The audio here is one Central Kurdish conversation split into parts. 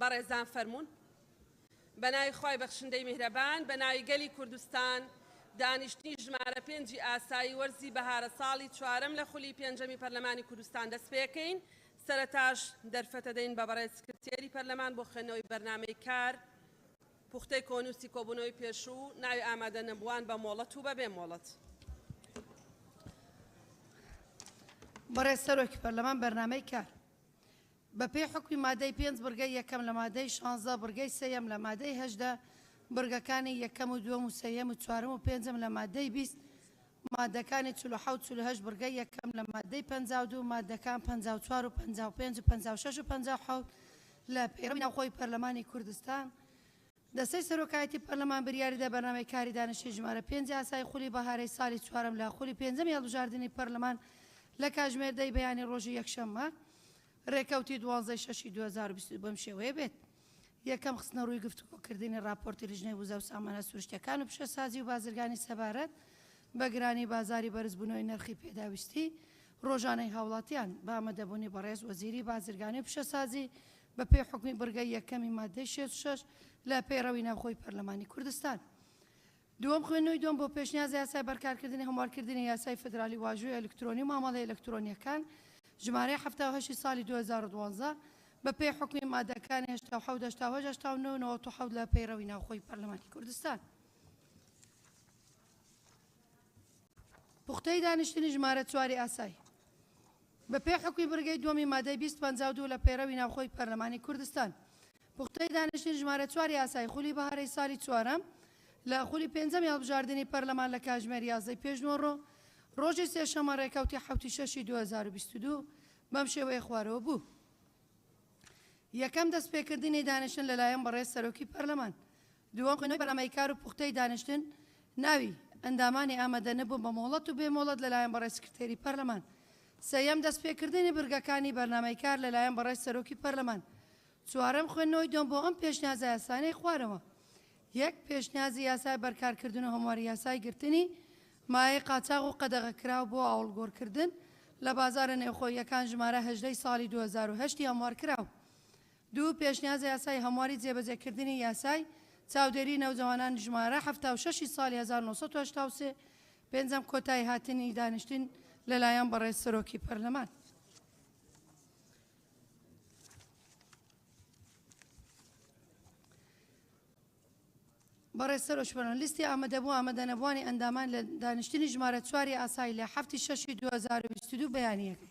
بەڕێزان فەرموون بەناوی خی بەخشندەی میهرەبان بەناوی گەلی کوردستان دانیشتنی ژمارە پێنجی ئاسایی وەرزی بەهارە ساڵی چوارەم لە خولی پێنجەمی پەرلەمانی کوردستان دەست پێکەین سەرتاش دەرفەتە دەین بە بەڕێز سکرتێری پەرلەمان بۆ خوێندنەوەی بەرنمەی کار پوختەی کۆنووسی کۆبوونەوەی پێشوو و ناوی ئامادەنەبووان بە مۆڵەت و بەبێ مۆڵەت. بەڕێز سەرۆکی پەرلەمان بەرنامەی کار بەپێی حوکمی مادەی پێنج بڕگەی یەکەم لە مادەی شانزە بڕگەی سێیەم لە مادەی هەژدە بڕگەکانی یەکەم و دووەم و سێیەم و چوارەم و پێنجەم لە مادەی بیست مادەکانی چل و حەوت چل و هەشت بڕگەی یەکەم لە ماددەی پەنجا و دوو مادەکان پەنجا و چوار و پەنجا و پێنج و پەنجا و شەش و پەنجا و حەوت لە پەیڕەوی ناوخۆی پەرلەمانی کوردستان دەستەی سەرۆکایەتی پەرلەمان بریاریدا بەرنامەی کاری دانیشتنی ژمارە پێنج یاسای خولی بەهارەی سالی چوارەم لە خولی پێنجەمی هەڵبژاردنی پەرلەمان لە کاژمێر دە ی بەیانی ڕۆژی یەکشەممە ڕێکەوتی دوازدە ی شەشی دوو هەزار و بیست و دوو بەم شێوەیە بێت. یەکەم، خستنەڕووی گفتوگۆکردنی ڕاپۆرتی لیژنەی وزە و سامانە سروشتییەکان و پیشەسازی و بازرگانی سەبارەت بە گرانی بازاری بەرزبوونەوەی نرخی پێداویستی ڕۆژانەی هاوڵاتیان بە ئامادەبوونی بەڕێز وەزیری بازرگانی و پیشەسازی بەپێی حوکمی بڕگەی یەکەمی ماددەی شەست و شەش لە پەیڕەوی ناوخۆی پەرلەمانی کوردستان دووەم، خوێندنەوەی دووەم بۆ پێشنیازە یاسای بەرکارکردنی هەموارکردنی یاسای فیدرالی واژووی ئەلکترۆنی و مامەڵەی ئەلکترۆنییەکان، ژمارەی حەفتا و هەشت ی ساڵی دوو هەزار و دوازدە، بەپێی حوکمی ماددەکانی هەشتا و حەوت، هەشتا و هەشت، هەشتا و نۆ و نەوەد و حەوت لە پەیڕەوی ناوخۆی پەرلەمانی کوردستان. پوختەی دانیشتنی ژمارە چوار ی ئاسای بەپێی حوکمی بڕگەی دووەمی ماددەی بیست، پەنجا و دوو لە پەیڕەوی ناوخۆی پەرلەمانی کوردستان. پوختەی دانیشتنی ژمارە چوار یاسای خولی بەهارەی سالی چوارەم لە خولی پێنجەمی هەڵبژاردنی پەرلەمان لە کاژمێر یازدە ی پێشنووڕۆ ڕۆژی سێشەممە ڕێکەوتی حەوت ی شەش ی دوو هەزار و بیست و دوو بەم شێوەیە خوارەوە بوو یەکەم دەستپێکردنی دانیشتن لەلایەن بەڕێز سەرۆکی پەرلەمان دووەم، خوێندنەوەی بەرنامەی کار و پوختەی دانیشتن ناوی ئەندامانی ئامادە نەبوون بە مۆڵەت و بێ مۆڵەت لەلایەن بەڕێز سکرتێری پەرلەمان. سێیەم، دەست پێ کردنی بڕگەکانی بەرنامەی کار لەلایەن بەڕێز سەرۆکی پەرلەمان. چوارەم، خوێندنەوەی دۆم بۆ ئەم پێشنیازە یاسانەی خوارەوە. یەک، پێشنیازی یاسای بەرکار کردن و هەمواری یاسای گرتنی مایەی قاچاغ و قەدەغە کراو بۆ ئاوڵگۆر کردن لە بازارە نێوخۆییەکان ژمارە هەژدە ی ساڵی دوو هەزار و هەشت ی هەموار کراو. دوو، پێشنیازە یاسای هەمواری جێبەجێکردنی یاسای چاودێری نەوجەوانان ژمارە حەفتا و شەش ی ساڵی هەزار و نۆ سەد و هەشتا و سێ. پێنجەم، کۆتاییهاتنی دانیشتن لەلایەن بەڕێز سەرۆکی پەرلەمان. بەڕێز سەرۆک پەرلەمان لیستی ئامادەبوو ئامادەنەبووانی ئەندامان لە دانیشتنی ژمارە چوار ی ئاسای لە حەفتی شەش ی دوو هەزار و بیست و دوو بەیانییەکەی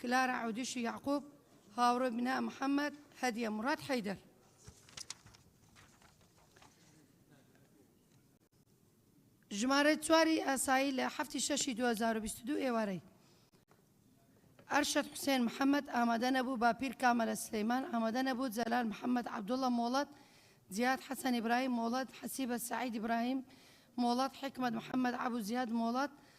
کلارا عودیشی یەعقوب، هاوڕێ بنا محەمەد، هەدیە موراد حەیدەر. ژمارەی چواری ئاسایی لە هەفتی شەشی 2022 ئێوارەی ئەرشەد حوسێن محەممەد ئامادە نەبوو باپیر کامەلە سلەیمان ئامادە نەبوو جەلال محەممەد عبدوڵە مۆڵەت زیاد حەسەن ئیبراهیم مۆڵەت حەسیبە سعید ئیبراهیم مۆڵەت حکمت محەممەد عبو زیاد مۆڵەت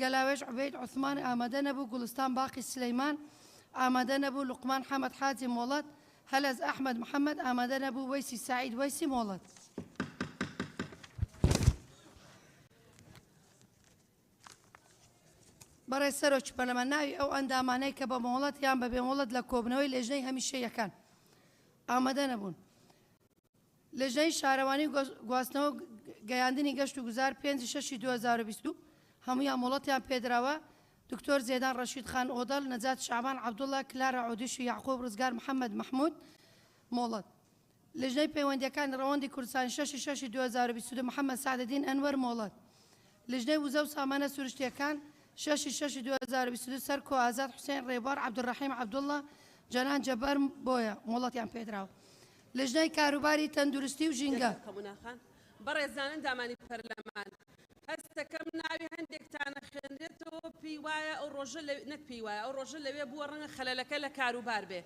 گەلاوێژ عوبێد عوسمان ئامادە نەبوو، گوڵستان باقی سلێیمان ئامادە نەبوو، لوقمان حەمەد حاجی مۆڵەت، هەلەز ئەحمەد محەمەد ئامادە نەبوو، وەیسی سەعید وەیسی مۆڵەت. بەڕێز سەرۆکی پەرلەمان ناوی ئەو ئەندامانەی کە بە مۆڵەت یان بە بێمۆڵەت لە کۆبنەوەی لێژنەی هەمیشەیەکان ئامادە نەبوون. لیژنەی شارەوانی و گواستنەوە و گەیاندنی گەشت و گوزار پێنج ی شەشی دوو هەزار و بیست و هەموویان مۆڵەتیان پێدراوە، دکتۆر زێدان ڕەشید خان ئۆدەڵ، نەجات شەعبان عەبدوڵا، کلارا عودیش و یەعقوب ڕزگار محەمەد مەحمود مۆڵەت. لیژنەی پەیوەندییەکانی ڕەوەندی کوردستانی شەشی شەشی دوو هەزار و بیست و دوو محەمەد سەعدەدین ئەنوەر مۆڵەت. لیژنەی وزە و سامانە سروشتییەکان، شەش ی شەش ی دوو هەزار و بیست و دوو سەر کۆ ئازاد حوسێن، رێبوار عەبدولڕەحیم عەبدوڵڵا، جەنان جەبار بۆیە مۆڵەتیان پێدراوە. لیژنەی کاروباری تەندروستی و ژینگە. بەڕێزان ئەندامانی پەرلەمان، هەستدەکەم ناوی هەندێکتان ئەخوێنرێتەوە پێیوایە ئەو ڕۆژە لەوێ نەک پێیوایە ئەو ڕۆژە لەوێ بووە ڕەنگە خەلەلەکە لە کاروبار بێ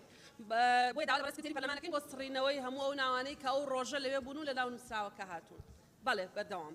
بۆیە داوا لە بەڕێز سکرتێری پەرلەمان ئەکەین بۆ سڕینەوەی هەموو ئەو ناوانەی کە ئەو ڕۆژە لەوێ بوون و لە ناو نووسراوەکە هاتوون بەڵێ بەردەوام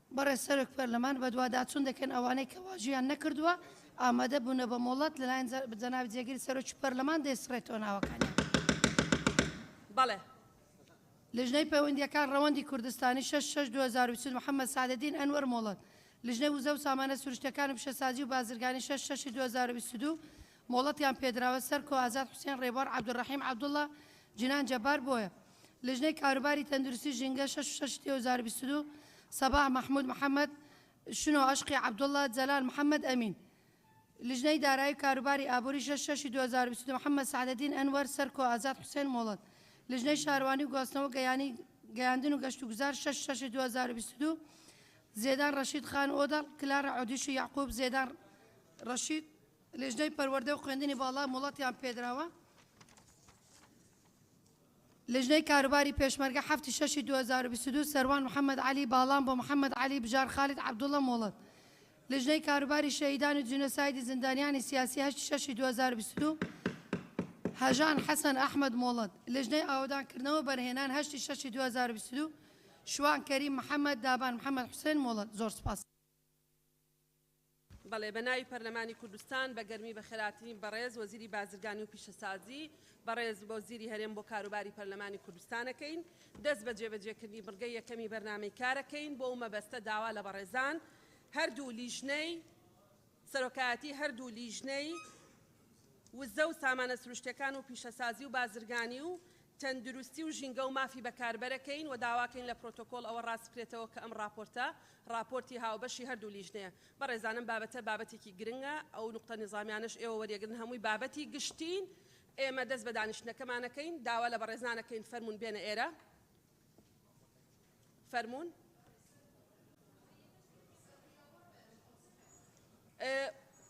بەڕێز سەرۆک پەرلەمان بەدواداچوون دەکەین ئەوانەی کە واژویان نەکردووە ئامادە بوونە بە مۆڵەت لەلایەن جەنابی جێگری سەرۆکی پەرلەمان دەیسڕێتەوە ناوەکانیان. بەڵێ. لیژنەی پەیوەندییەکان ڕەوەندی کوردستانی، شەش شەش دوو هەزار و بیست و دوو، محەممەد سەعدەدین ئەنوەر مۆڵەت، لیژنەی وزە و سامانە سروشتییەکان و پیشەسازی و بازرگانی، شەش شەش دوو هەزار و بیست و دوو، مۆڵەتیان پێدراوە، سەرکۆ، ئازاد حوسێن، ڕێبوار عەبدولڕەحیم عەبدوڵڵا، جینان جەبار، بۆیە. لیژنەی کاروباری تەندروستی ژینگە شەش و شەش تێ و زار بیست و دوو سەباح مەحمود محەمەد شنۆ ئەشقی عەبدوڵڵا جەلال محەمەد ئەمین لیژنەی دارایی و کاروباری ئابووری شەش شەشی دوو هەزار و بیست و دوو محەمەد سەعدەدین ئەنوەر سەرکۆ ئازاد حوسێن مۆڵەت لیژنەی شاروانی و گواستنەوە گەیانی گەیاندن و گەشت و گوزار شەش شەشی دوو هەزار و بیست و دوو زێدان ڕەشید خان ئۆدەڵ کلارا عودیش و یەعقوب زێدان ڕەشید لیژنەی پەروەردە و خوێندنی باڵا مۆڵەتیان پێدراوە لیژنەی کاروباری پێشمەرگە حەفت ی شەش ی دوو هەزار و بیست و دوو سەروان محەمەد عەلی باڵان بۆ محەمەد عەلی بژار خالید عەبدوڵڵە مۆڵەت لیژنەی کاروباری شەهیدان و جینۆسایدی زیندانیانی سیاسی هەشت ی شەش ی دوو هەزار و بیست و دوو هەژان حەسەن ئەحمەد مۆڵەت لیژنەی ئاوەدان کردنەوە و بەرهێنان هەشت ی شەش ی دوو هەزار و بیست و دوو شوان کەریم محەمەد دابان محەمەد حوسێن مۆڵەت زۆر سوپاس. بەڵێ بە ناوی پەرلەمانی کوردستان بە گەرمی بە خێراترین بەڕێز وەزیری بازرگانی و پیشەسازی بەڕێز وەزیری هەرێم بۆ کاروباری پەرلەمانی کوردستانەکەین دەست بە جێبەجێکردنی بڕگەی یەکەمی بەرنامەی کارەکەین بۆ مەبەستە داوا لە بەڕێزان هەردوو لیژنەی سەرۆکایەتی هەردوو لیژنەی وزە و سامانە سروشتەکان و پیشەسازی و بازرگانی و تەندروستی و ژینگە و مافی بەکاربەرەکەین و داواکەین لە پرۆتۆکۆڵ ئەوە ڕاست بکرێتەوە کە ئەم ڕاپۆرتە ڕاپۆرتی هاوبەشی هەردوو لیژنەیە بەڕێزان ئەم بابەتە بابەتێکی گرنگە ئەو نوقتە نیزامیانەش ئێوە وەریەگرن هەمووی بابەتی گشتین ئێمە دەست بە دانیشتنەکەمان ئەکەین داوا لە بەڕێزان ئەکەین فەرموون بێنە ئێرە فەرموون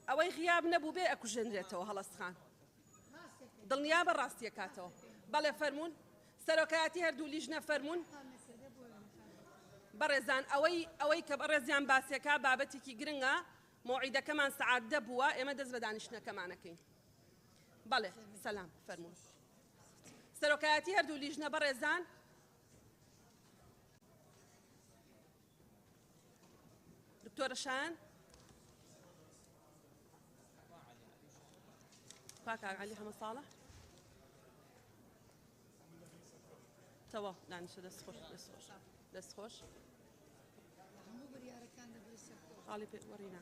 ئەوەی غیاب نەبوو بێ ئەکوژێنرێتەوە هەڵەست خان دڵنیابە ڕاستیەکاتەوە. بەڵێ فەرموون سەرۆکایەتی هەردوو لیژنە فەرموون. بەڕێزان ئەوەی ئەوەی کە بەڕێزیان باسیەکە بابەتێکی گرنگە مۆعیدەکەمان سەعات دە بووە ئێمە دەست بە دانیشتنەکەمانەکەین بەڵێ سەلام فەرموون سەرۆکایەتی هەردوو لیژنە بەڕێزان دکتۆرە شایان کاکا علی حەمە ساڵە تەوا دانیشە دەست خۆش دەست خۆش دەست خۆش خاڵی پێ وەڕینا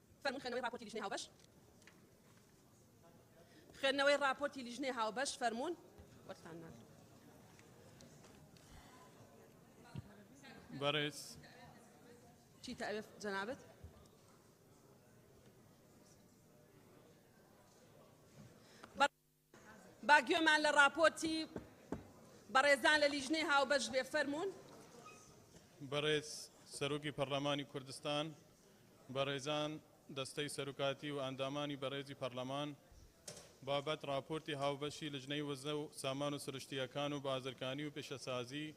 فەرموون خوێندنەوەی ڕاپۆرتی لیژنەی هاوبەش خوێندنەوەی ڕاپۆرتی لیژنەی هاوبەش فەرموون وەرتان ناگرم بەڕێز چی تەوێت جەنابت با گوێمان لە ڕاپۆرتی بەڕێزان لە لیژنەی هاوبەش بێ فەرموون. بەڕێز سەرۆکی پەرلەمانی کوردستان، بەڕێزان دەستەی سەرکاتی و ئەندامانی بەڕێزی پەرلەمان، بابەت ڕاپۆرتی هاوبەشی لژنەی وزە و سامان و سروشتییەکان و بازرگانی و پیشەسازی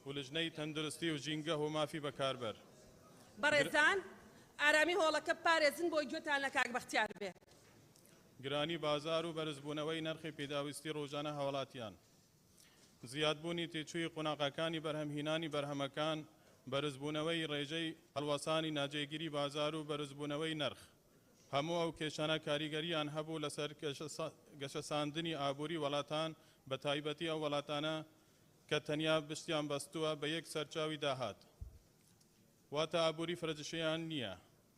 و لژنەی تەندروستی و ژینگە و مافی بەکاربەر. بەڕێزان ئارامی هۆڵەکە بپارێزن بۆی گوێتان لە کاک بەختیار بێ. گرانی بازار و بەرزبوونەوەی نرخی پیداویستی رووژانە هاوڵاتیان، زیادبوونی تێچووی قوناغەکانی بەرهەمهینانی بەرهەمەکان، بەرزبوونەوەی رێژەی هەڵوەسانی ناجێگیری بازار و بەرزبوونەوەی نرخ، هەموو ئەو کێشانە کاریگەرییان هەبوو لەسەر گەشەساندنی ئابووری وەڵاتان، بەتایبەتی ئەو وەڵاتانە کە تەنیا پشتیان بەستووە بە یەک سەرچاوی داهات، واتە ئابووری فرەجشەیان نییە.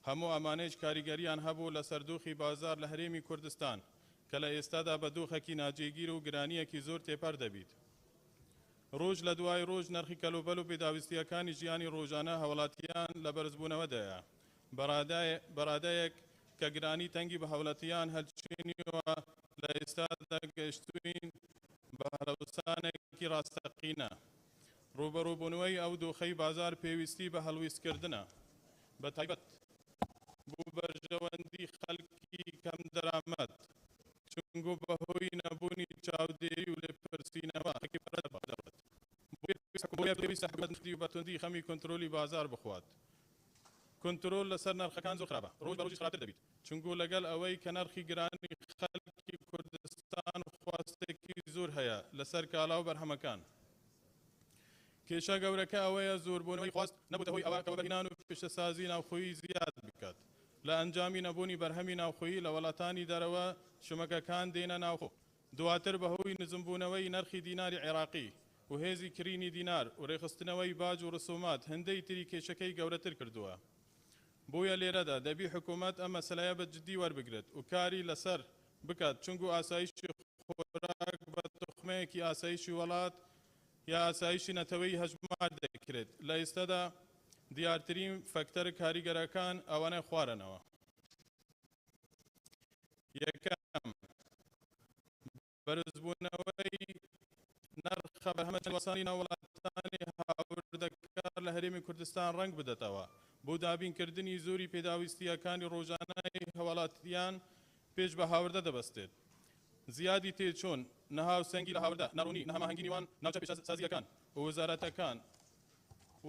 هەموو ئەمانەیش کاریگەرییان هەبوو لەسەر دۆخی بازار لە هەرێمی کوردستان کە لە ئێستادا بە دۆخێکی ناجێگیر و گرانییەکی زۆر تێپەر دەبیت رۆژ لە دوای رۆژ نرخی کەلوپەل و پێداویستییەکانی ژیانی رۆژانە هاوڵاتییان لە بەرزبوونەوەدایە بە رادەیەک کە گرانی تەنگی بە هاوڵاتییان هەلچنیوە لە ئێستادا گەشتووین بە هەلەوسانێکی راستەقینە رووبەڕووبوونوەی ئەو دۆخەی بازار پێویستی بە هەڵویستکردنە بە تایبەت بۆ بەرژەوەندی خەلکی کەم دەرامەت، چونگۆ بە هۆی نەبوونی چاودێری و لێپرسینەوە خەلکی بە رەدەبا دەڕوات، بۆیە پێویستە حکومەت نرخی و بە توندی خەمی کونترۆلی بازار بخوات، کونترۆل لە سەر نەرخەکان زۆر خراپە، رۆژ بە رۆژیش خراپتر دەبیت، چونگۆ لە گەل ئەوەی کە نەرخی گرانی خەلکی کوردستان خواستێکی زۆر هەیە لە سەر کالا و بەرهەمەکان، کێشە گەورەکە ئەوەیە زوربونەوەی خواست نەبوتە هۆی ئەوە کە وەبەرهینان و پیشەسازی ناوخۆیی زیاد بکات لە ئەنجامی نەبونی بەرهەمی ناوخۆیی لە وەلاتانی دەرەوە شمەکەکان دێنە ناوخۆ دواتر بەهۆی نزمبونەوەی نەرخی دیناری عێراقی و هێزی کرینی دینار و رێکخستنەوەی باج و رسومات هندەی تری کێشەکەی گەورەتر کردوە بویە لێرەدا دەبی حکومەت ئەم مەسەلەیە بە جدی وەربگرێت و کاری لەسەر بکات چونکو ئاسایشی خۆراک بە توخمەیەکی ئاسایشی وەڵات یا ئاسایشی نەتەوەیی هەژمار دەکرێت لە ئیستەدا دیارترین فەکتەرە کاریگەرەکان ئەوانە خوارەنەوە یەکەم بەرزبونەوەی نرخە بەرهەمە چەندوەسانی ناو وڵاتانی هاوردەکار لە هەرێمی کوردستان ڕەنگ بدەتەوە بۆ دابین کردنی زۆری پێداویستییەکانی ڕۆژانەی هەواڵاتیان پێش بە هاوردە دەبەستێت زیادی تێچوون نەهاوسەنگی لە هاوردە ناڕوونی نەهەماهەنگی نیوان ناوچە پیشەسازییەکان ووزارەتەکان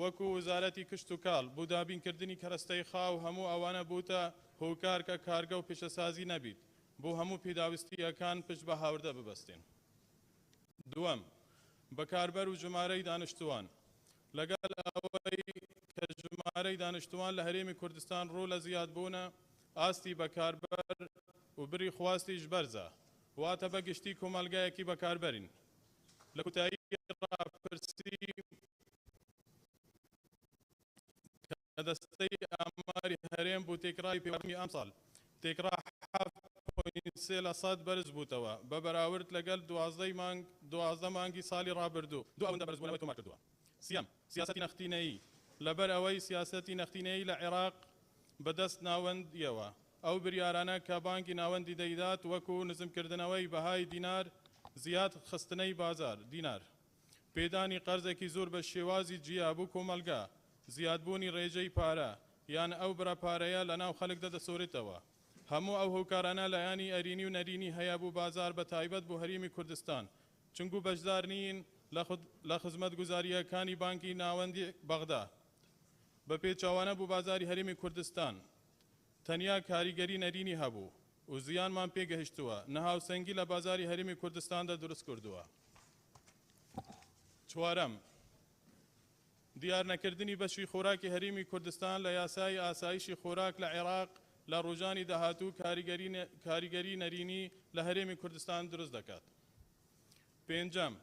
وەکو وزارەتی کشت و کاڵ بۆ دابین کردنی کەرەستەی خاو هەموو ئەوانە بووتە هۆکار کە کارگە و پیشەسازی نەبیت بۆ هەموو پێداویستییەکان پشت بە هاوردە ببەستێن. دووەم، بەکاربەر و ژمارەی دانشتووان، لەگەڵ ئەوەی کە ژمارەی دانشتووان لە هەرێمی کوردستان ڕوو لە زیادبوونە، ئاستی بەکاربەر و بری خواستیش بەرزە، واتە بە گشتی کۆمەڵگایەکی بەکاربەرین. لە کوتایی ڕاپرسی لە دەستەی ئاماری هەرێم بوو، تێکڕای پێوەرمی ئەمساڵ تێکڕا حەفت پۆینت سێ لە سەد بەرز بووتەوە بە بەراورد لەگەل دوازدە مانگ دوازدە مانگی سالی رابردوو، دوو ئەوەندە بەرزبوونەوەی تۆمار کردووە. سییەم، سیاسەتی نەختینەیی، لەبەر ئەوەی سیاسەتی نەختینەیی لە عێراق بە دەست ناوەندییەوە، ئەو بریارانە کە بانکی ناوەندی دەیدات وەکو نزمکردنەوەی بەهای دینار، زیاد خستنەی بازار دینار، پێدانی قەرزێکی زۆر بە شێوازی جیا بۆ کۆمەڵگا، زیادبوونی ڕێژەی پارە یان ئەو بڕە پارەیە لە ناو خەلکدا دەسۆرێتەوە. هەموو ئەو هۆکارانە لایەنی ئەرینی و نەرینی هەیە بۆ بازار بە تایبەت بۆ هەریمی کوردستان چونگو بەشدار نیین لە خزمەتگوزارییەکانی بانکی ناوەندی بەغدا بە پێچەوانە بۆ بازاری هەریمی کوردستان تەنیا کاریگەری نەرینی هەبوو و زیانمان پێ گەهشتووە نەهاوسەنگی لە بازاری هەریمی کوردستاندا دروست کردووە. چوارەم، دیارنەکردنی بەشی خۆراکی هەریمی کوردستان لە یاسای ئاسایشی خۆراک لە عێراق لە ڕوژانی داهاتوو کاریگەری نەرینی لە هەرێمی کوردستان دروست دەکات. پێنجەم،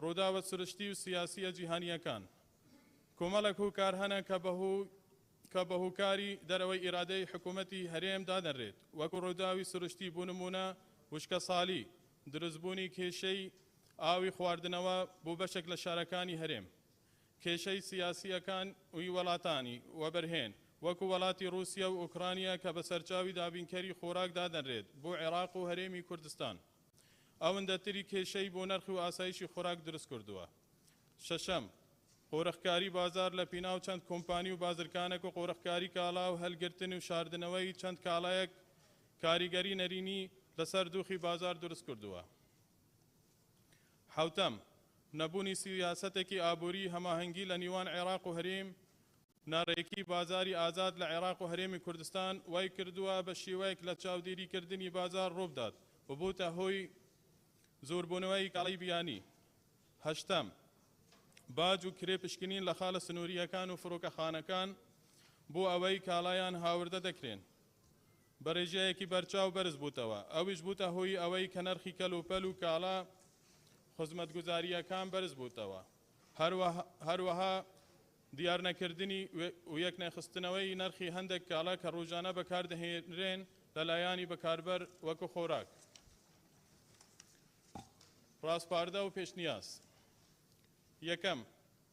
ڕووداوە سروشتی و سیاسیە جیهانیەکان، کۆمەڵێک هوکار هەنە کە بەهو کە بە هوکاری دەرەوەی ئیرادەی حکوومەتی هەرێم دادەنرێت وەکو ڕووداوی سروشتی بۆ نموونە وشکەسالی دروستبوونی کێشەی ئاوی خواردنەوە بۆ بەشێک لە شارەکانی هەرێم، کێشەی سیاسییەکان و ی وەڵاتانی وەبەرهێن وەکو وەڵاتی ڕووسیە و ئۆکرانیا کە بە سەرچاوی دابینکەری خۆراک دادەنرێت بۆ عێراق و هەرێمی کوردستان ئەوندەتری کێشەی بۆ نرخ و ئاسایشی خۆراک دروستکردووە. شەشەم، قۆرخکاری بازار لە پیناو چەند کۆمپانی و بازرکانەک و قۆرخکاری کاڵا و هەلگرتن و شاردنەوەی چەند کاڵایەک کاریگەری نەرێنی لەسەر دۆخی بازار دروستکردووە. حەوتەم، نەبوونی سیاسەتێکی ئابووریی هەماهەنگی لە نیوان عێراق و هەرێم، ناڕێکیی بازاری ئازاد لە عێراق و هەرێمی کوردستان وای کردووە بە شێوەیەک لە چاودێریکردنی بازار ڕووبدات و بووتە هۆی زۆربوونەوەی کاڵای بیانی. هەشتەم، باج و کرێ پشکنین لە خاڵە سنوورییەکان و فڕۆکەخانەکان بۆ ئەوەی کاڵایان هاوردە دەکرێن. بەڕیژەیەکی بەرچاو بەرز بووتەوە، ئەویش بووتە هۆی ئەوەی کە نرخی کەلوپەل و کاڵا خزمەتگوزارییەکان بەرز بووتەوە، هەروەها دیارنەکردنی و یەکنەخستنەوەی نرخی هەندێک کاڵا کە ڕۆژانە بەکاردەهێنرێن لە لایەنی بەکاربەر وەکو خۆراک، ڕاسپاردە و پێشنیاز. یەکەم،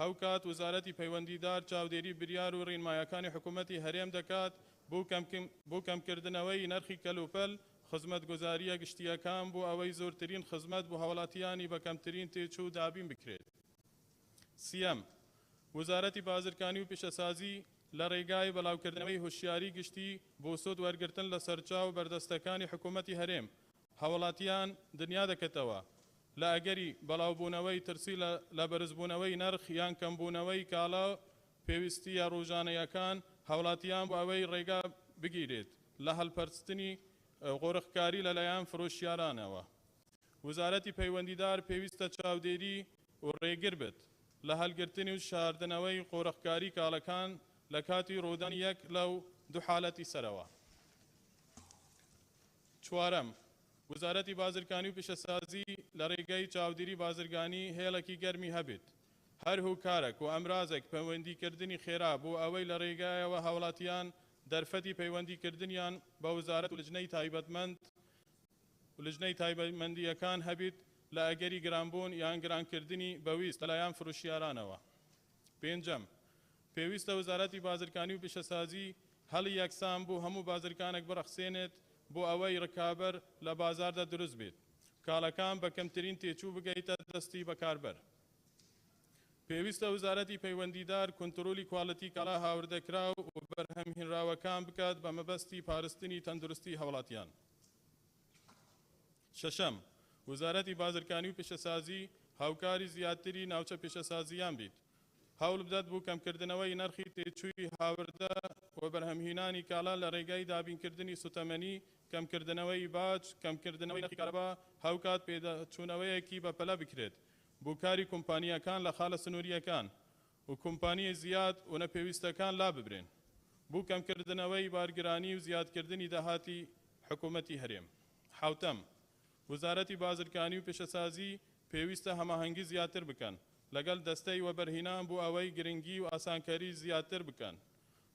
هاوکات وزارەتی پەیوەندیدار چاودێری بریار و رینمایەکانی حکومەتی هەرێم دەکات بو کەمکردنەوەی نرخی کەلوپەل خزمەتگوزاریە گشتیەکان بو ئەوەی زورترین خزمەت بو هاوڵاتیانی بە کەمترین تێچو دابین بکرێت. سیەم، وزارەتی بازرکانی و پیشەسازی لە رێگای بەلاوکردنەوەی هوشیاری گشتی بو سود وەرگرتن لە سەرچاو بەردەستەکانی حکومەتی هەرێم هاوڵاتیان دنیا دەکەتەوە لە ئەگەری بەڵاوبوونەوەی ترسی لە بەرزبوونەوەی نرخ یان کەمبوونەوەی کاڵا و پێویستییە ڕوژانەیەکان هاوڵاتیان بۆ ئەوەی ڕێگا بگیرێت لە هەڵپەرستنی قۆرخکاری لەلایەن فرۆشیارانەوە وزارەتی پەیوەندیدار پێویستە چاودێری و ڕێگر بێت لە هەلگرتن و شاردنەوەی قۆرخکاری کاڵەکان لە کاتی ڕوودانی یەک لەو دوو حالەتی سەرەوە. چوارەم، وزارەتی بازرگانی و پیشەسازی لە ڕێگەی چاودیری بازرگانی هێڵێکی گەرمی هەبێت هەر هوکارەک و ئەمرازێک پەیوەندیکردنی خێرا بۆ ئەوەی لە ڕێگایەوە هاوڵاتیان دەرفەتی پەیوەندیکردنیان بە وزارەت و لجنەی تایبەتمەند و لجنەی تایبەتمەندییەکان هەبێت لە ئەگەری گرانبوون یان گرانکردنی بەویست لەلایەن فروشیارانەوە پێنجەم، پێویستە وزارەتی بازرگانی و پیشەسازی هەلی یەکسان بۆ هەموو بازرگانێک برەخسێنێت بۆ ئەوەی رکابەر لە بازاردا دروست بێت کاڵەکان بە کەمترین تێچوو بگەیتە دەستی بەکاربەر پێویستە وزارەتی پەیوەندیدار کونترۆلی کوالێتی کاڵا هاوردەکراو و بەرهەمهینراوەکان بکات بە مەبەستی پارستنی تەندروستی هاوڵاتیان. شەشەم، وزارەتی بازرگانی و پیشەسازی هاوکاری زیاتری ناوچە پیشەسازییان بیت هەوڵبدات بۆ کەمکردنەوەی نرخی تێچووی هاوردە و بەرهەمهینانی کالا لە رێگای دابینکردنی سوتەمەنی، کەمکردنەوەی باج، کەمکردنەوەی نرخی کارەبا، هاوکات پێداچوونەوەیەکی بەپەلە بکرێت بۆ کاری کومپانیاکان لە خالە سنورییەکان و کومپانیای زیاد و نەپێویستەکان لاببرێن بۆ کەمکردنەوەی بارگرانی و زیادکردنی داهاتی حکومەتی هەرێم. حەوتەم. وەزارەتی بازرگانی و پیشەسازی پێویستە هەماهەنگی زیاتر بکەن لەگەل دەستەی وەبەرهینان بۆ ئەوەی گرنگی و ئاسانکەری زیاتر بکەن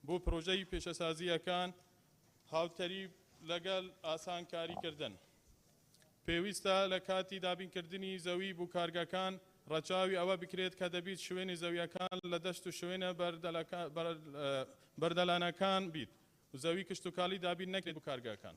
بۆ پرۆژەی پیشەسازییەکان، هاوتەریب لەگەل ئاسانکاریکردن پێویستە لە کاتی دابینکردنی زەوی بو کارگەکان رەچاوی ئەوە بکرێت کە دەبیت شوێنی زەویەکان لە دەشت و شوێنە بەردەلەکان بیت و زەوی کشتوکالی دابین نەکرێت بو کارگەکان.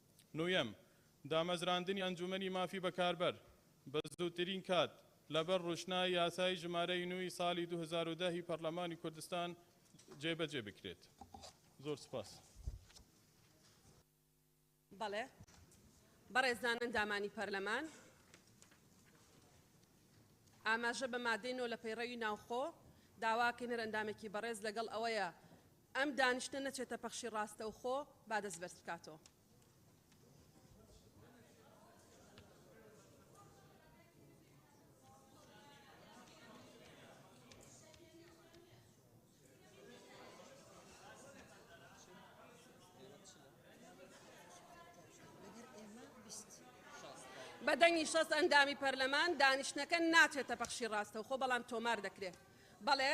نۆیەم، دامەزراندنی ئەنجومەنی مافی بەکاربەر بە زووترین کات لەبەر ڕوشنای یاسای ژمارەی نۆ ی ساڵی دوو هەزار و دە ی پەڕلەمانی کوردستان جێبەجێ بکرێت. زۆر سوپاس. بەڵێ. بەڕێزان ئەندامانی پەرلەمان، ئاماژە بە مادەی نۆ لە پەیڕەوی ناوخۆ داواکەین، هەر ئەندامێکی بەڕێز لەگەڵ ئەوەیە، ئەم دانیشتنە نەچێتە پەخشی ڕاستەوخۆ با دەست بەرز بکاتەوە. بە دەنگی شەست ئەندامی پەرلەمان دانیشتنەکە ناچێتە پەخشی ڕاستەوخۆ بەڵام تۆمار دەکرێت بەڵێ